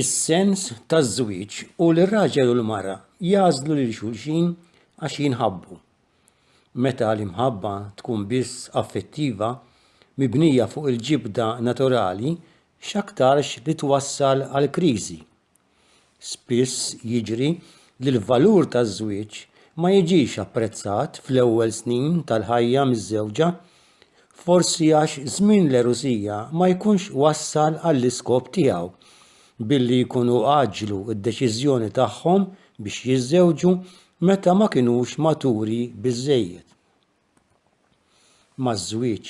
is-sens taż-żwieġ hu li r-raġel u l-mara jagħżlu lil xulxin għax jinħabbu. Meta l-imħabba tkun biss affettiva, mibnija fuq il-ġibda naturali, x'aktarx li twassal għal kriżi. Spiss jiġri li l-valur taż-żwieġ ma jiġix apprezzat fl-ewwel snin tal-ħajja miż-żewġa Forsi għax żmien l-erusija ma jkunx wassal għall-iskop tiegħu billi jkunu għaġġlu d-deċiżjoni tagħhom biex jiżżewġu meta ma kinux maturi biżżejjed. Maż-żwieġ,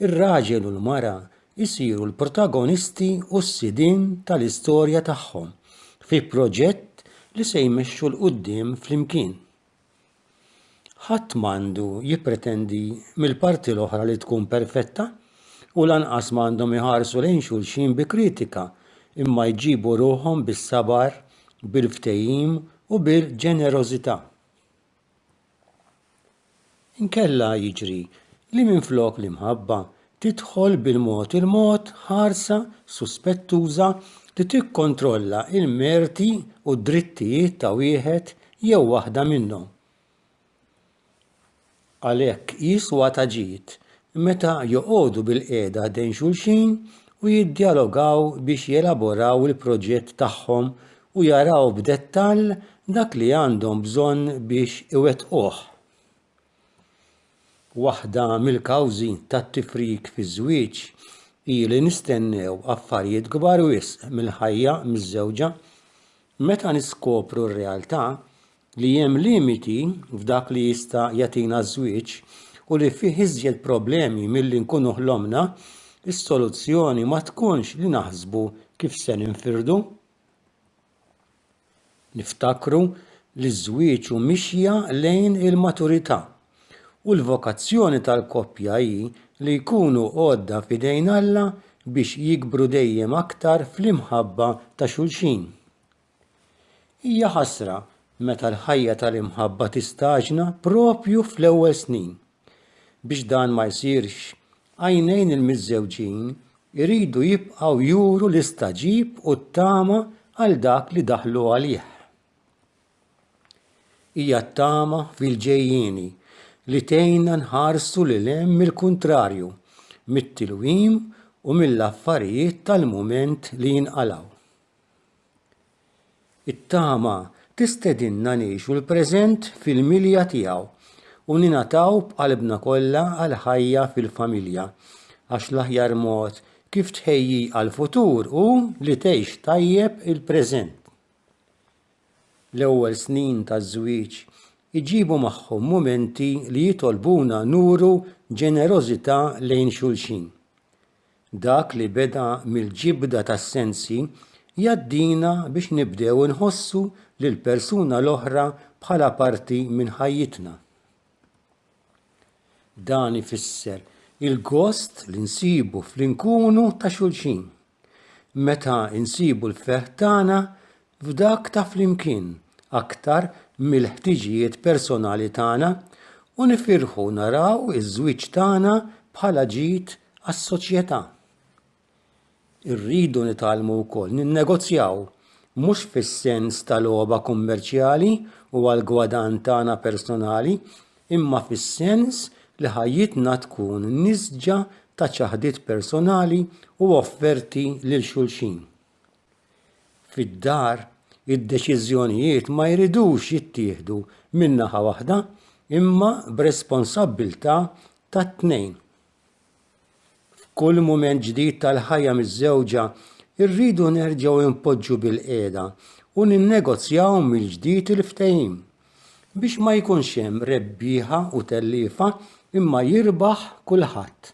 ir-raġel u l-mara jsiru l-protagonisti u s-sidien tal-istorja tagħhom fi proġett li se jmexxu 'l quddiem flimkien. Ħadd m'għandu jippretendi mill-parti l-oħra li tkun perfetta u lanqas ma għandhom iħarsu lejn xulxin bi kritika imma jġibu ruħhom bis-sabar, bil-ftehim u bil-ġenerożità. Inkella jiġri li minflok l-imħabba tidħol bil-mod il-mod ħarsa suspettuża li tikkontrolla l-merti u d-drittijiet ta' wieħed jew waħda minnhom. Għalhekk jiswa ta' ġid meta joqogħdu bilqiegħda ħdejn xulxin u jiddjalogaw biex jelaboraw il-proġett tagħhom u jaraw b'dettall dak li għandhom bżonn biex iwettquh. Waħda mill-kawżi tat-tifrik fiż-żwieġ hi li nistennew affarijiet kbar wisq mill-ħajja miżżewġa. Meta niskopru r-realtà li hemm limiti f'dak li jista' jagħtina ż-żwieġ u li fih iżjed problemi milli nkunu ħlomna, is-soluzzjoni ma tkunx li naħsbu kif se ninfirdu. Niftakru li ż-żwieġ hu mixja lejn il-maturità, u l-vokazzjoni tal-koppja hi li jkunu għodda f'idejn Alla biex jikbru dejjem aktar fl-imħabba ta' xulxin. Hija ħasra meta l-ħajja tal-imħabba tistaġna proprju fl-ewwel snin. Biex dan ma jsirx, għajnejn il-miżżewġin iridu jibqgħu juru l-istagħġib u t-tama għal dak li daħlu għalih. Hija t-tama fil-ġejjieni li tgħinna nħarsu lil hemm il-kuntrarju, mit-tilwim u mill-affarijiet tal-mument li jinqalgħu. It-tama tistedinna ngħixu l-preżent fil-milja tiegħu u ningħataw b'qalbna kollha għall-ħajja fil-familja, għax l-aħjar mod kif tħejji għall-futur hu li tgħix tajjeb il-preżent. L-ewwel snin taż-żwieġ iġibu magħhom mumenti li jitolbuna nuru ġenerożità lejn xulxin. Dak li beda mill-ġibda tas-sensi jgħaddina biex nibdew inħossu lill-persuna l-oħra bħala parti minn ħajjitna. Dan ifisser il-gost li nsibu fl-inkunu ta' xulxin. Meta nsibu l-ferħ tagħna, f'dak ta' flimkien aktar mill-ħtiġijiet personali tagħna u nifirħu naraw iż-żwieġ tagħna bħala ġid għas-soċjetà. Irridu nitgħallmu wkoll ninnegozjaw, mhux fis-sens ta' logħba kummerċjali u għall-gwadann tagħna personali, imma fis-sens li ħajjitna tkun nisġa ta' ċaħdiet personali u offerti lil xulxin. Fid-dar, id-deċiżjonijiet ma jridux jittieħdu minn naħa waħda imma b'responsabbiltà tat-tnejn. F'kull mument ġdid tal-ħajja miżżewġa, irridu nerġgħu npoġġu bilqiegħda u ninnegozjaw mill-ġdid il-ftehim, biex ma jkunx hemm rebbieħa u telliefa imma jirbaħ kulħadd.